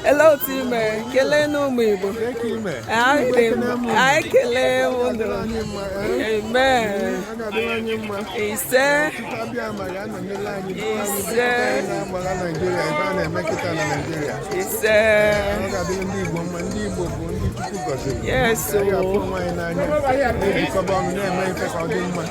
ele otu i mere keleenụ ụmụ Igbo anyị ekelee unu ise ise ise yes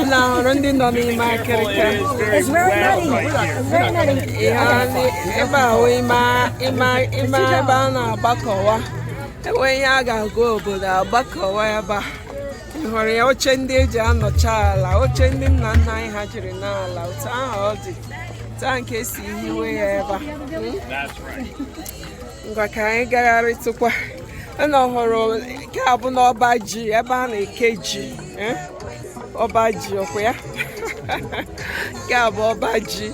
unu ahụrụ ndị nọ n'ime akịrịka ebe ahụ ime ebe a na-agbakọwa e nwee ihe a ga-agwa obodo agbakọwa ebe a ị hụrụ ya oche ndị e ji anọcha ala oche ndị nna nna anyị ha jiri nọọ ala otu ahụ ọ dị otu ahụ ka e si hiwe ya ebe a ngwa ka anyị gagharịtụkwa unu ọ hụrụ nke a bụnụ ọba ji ebe a na-eke ji eh? ọba ji ọkwa ya nke a bụ ọba ji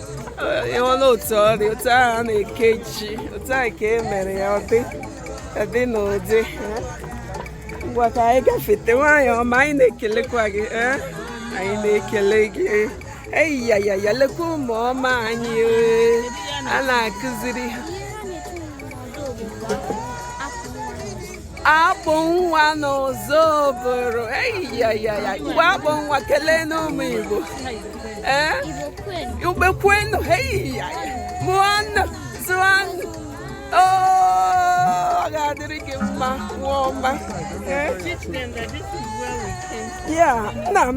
ị hụla otu ọ dị otu ahụ a na-eke ji otu ahụ ka e mere ya ọ dị dị n'ụdị eh? ngwa ka anyị gafete nwaanyị ọma anyị na-ekelekwa gị eh? anyị na-ekele gị eyiyayaya lekwa ụmụ ọma anyị a na-akụziri ha akpụ nwa n'ụzọ obodo eyiyayaya ngwa akpụ nwa keleenụ ụmụ Igbo ee Igbo kwenu eyiyaya mụọnụ zụọnụ ọ ga-adịrị gị mma nwa ọma Yeah, nna m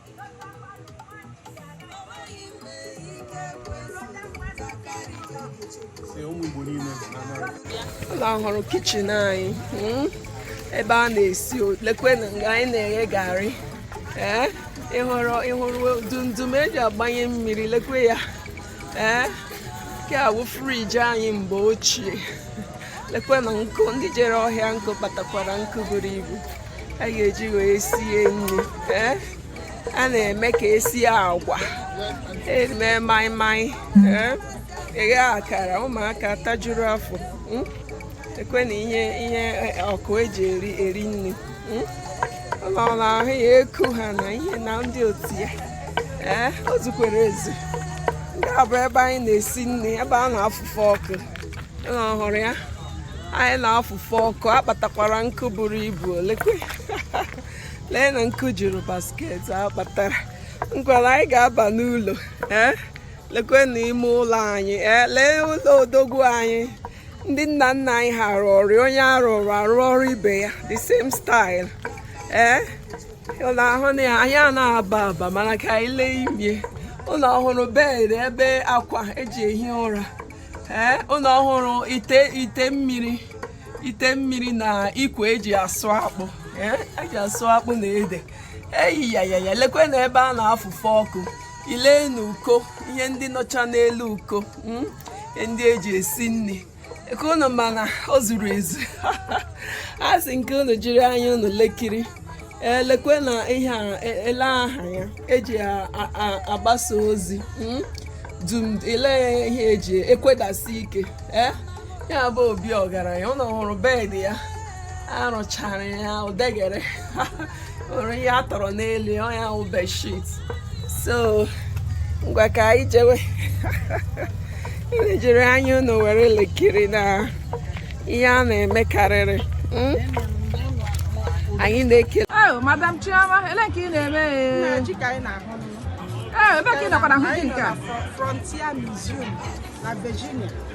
unu ọ hụrụ kichin anyị hmm? ebe a na-esi lekwena nga anyị na-eghe garị ee eh? ị hụrụ ị hụrụ dundum e ji agbanye mmiri lekwe ya ee nke a wụ friji anyị mgbe ochie lekwe na nkụ ndị jere ọhịa nkụ kpatakwara nkụ buru ibu a ga-eji wee sie nri ee a na-eme ka e sie agwa e mee maịmaị ee e ghee akara ụmụaka tajuru afọ hmm? lekwe na ihe ọkụ e ji eri nri unu na-ahụ ya eku ha na ihe na ndị otu ya ee eh, o zukwere ezu nke a bụ ebe anyị na-esi nri ebe a na-afụfe ọkụ unu ọ hụrụ ya anyị na-afụfe ọkụ a kpatakwara nkụ buru ibu o lekwe lee na nkụ juru basket a kpatara ngwanụ anyị ga-aba n'ụlọ ee eh, lekwe na ime ụlọ anyị ee eh, lee ụlọ odogwu anyị ndị nna nna anyị ha rụrụ onye arụrụ arụ ọrụ ibe ya the same style ee eh? unu ahụna ya anaghị aba aba mana ka anyị lee imie unu ọ hụrụ bed ebe akwa eji ehi ụra ee eh? unu ọ hụrụ ite ite mmiri ite mmiri na ikwe eji asụ akpụ ee eh? eji asụ akpụ na ede eyi ya ya ya lekwe na ebe a na-afụfe ọkụ i lee n'uko ihe ndị nọcha n'elu uko ihe ndị eji esi nri ka unu mana ọ zuru ezu asị m ka unu jiri anya unu lekiri lekwe na ihe e, ele aha ya eji agbasa ozi hmm, dum i lee ihe eji ekwedasi ike eh? ya bụ obi ọgaranya unu hụrụ bed ya arụchara ya odegere nwere ihe a tọrọ n'elu ya wụ bedsheet so ngwa ka anyị jewe unu jiri anya unu were lekiri na ihe a na-eme karịrị hmm? anyị na-ekele oh, madam chioma ele nke ị na-eme eh, ebe ka ị nọkwara hụ ji nke a